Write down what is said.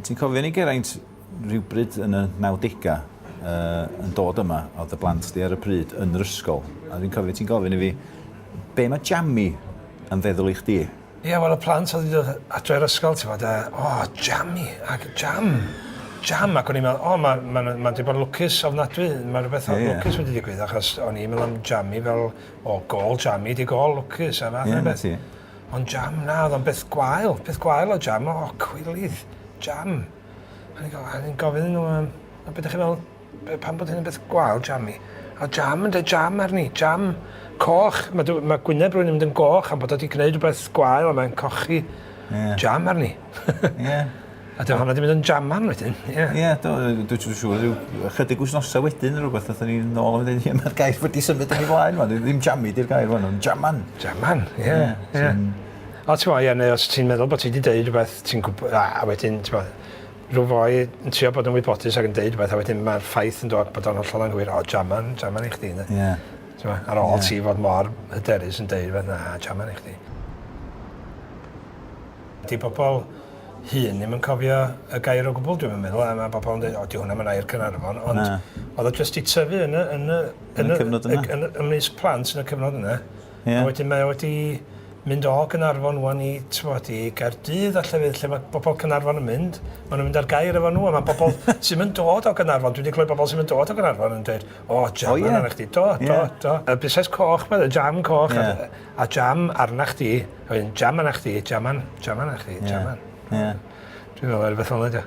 Ti'n cofio ni Geraint rhywbryd yn y nawdegau yy yn dod yma oedd y blant di ar y pryd yn yr ysgol a fi'n cofio ti'n gofyn i fi be mae Jammi yn feddwl i chdi? Ie wel y plant oedd wedi dod adre o'r ysgol ti'n gwybod a o Jammi ac Jam Jam ac o'n i'n meddwl o mae ma' ma' wedi bod yn lwcus ofnadwy mae rhywbeth yeah. lwcus wedi digwydd achos o'n i'n meddwl am Jammi fel o gol Jammi di gol lwcus a fath yeah, o beth. Ond jam, na, oedd o'n beth gwael, peth gwael o jam, o, cwilydd, jam. A ni'n gofyn nhw, um, a beth ydych chi'n meddwl, pan bod hyn yn beth gwael, jam i? A jam yn dweud jam arni, jam coch. Mae, mae gwyneb rwy'n mynd yn goch am bod wedi gwneud rhywbeth gwael a mae'n cochi yeah. jam arni. yeah. A dyna hwnna wedi mynd yn jaman wedyn, ie. Ie, do, dwi'n siŵr, siŵr, rhyw ychydig wythnosau wedyn neu rhywbeth, nath ni nôl yn mynd, ie, mae'r gair wedi symud yn ei flaen, man, ddim jammi di'r gair, man, ond jaman. Jaman, ie, ie. ie. O, ti'n meddwl, ie, neu os ti'n meddwl bod ti wedi deud rhywbeth, ti'n gwybod, a, a wedyn, ti'n meddwl, rhyw foi yn trio bod yn wybodus ac yn deud rhywbeth, a wedyn mae'r ffaith yn dod bod o'n hollol anghywir, o, jaman, jaman i chdi, ne? Ie. Yeah. Ti'n meddwl, ar ôl yeah. ti fod mor hyderus yn deud rhywbeth, na, jaman i chdi. 'Di pobl hŷn ddim yn cofio y gair o gwbl dwi'm yn meddwl a ma' pobl yn deud o 'di hwnna 'im yn air Caernarfon ond... Na. ...o'dd o jyst 'di tyfu yn y yn y... Yn y cyfnod yna. ...yn y ymysg plant yn y cyfnod yna. Ie. A wedyn mae o wedi mynd o Gaernarfon ŵan i t'mod i Gaerdydd a llefydd lle ma' bobol Caernarfon yn mynd ma' nw'n mynd â'r gair efo n'w a ma' pobol ti'm yn dod o Gaernarfon dwi 'di clywed bobol sy'm yn dod o Gaernarfon yn deud o jam yna nachdi do do do. Y busnes coch 'ma y jam coch a pethe. Ie. A jam arnach chdi, a wedyn jam arnach chdi, jam arn- jam arnach chdi, jam arn-. Ie. Ie. Dwi me'wl ma' rwbeth fel 'a 'di o.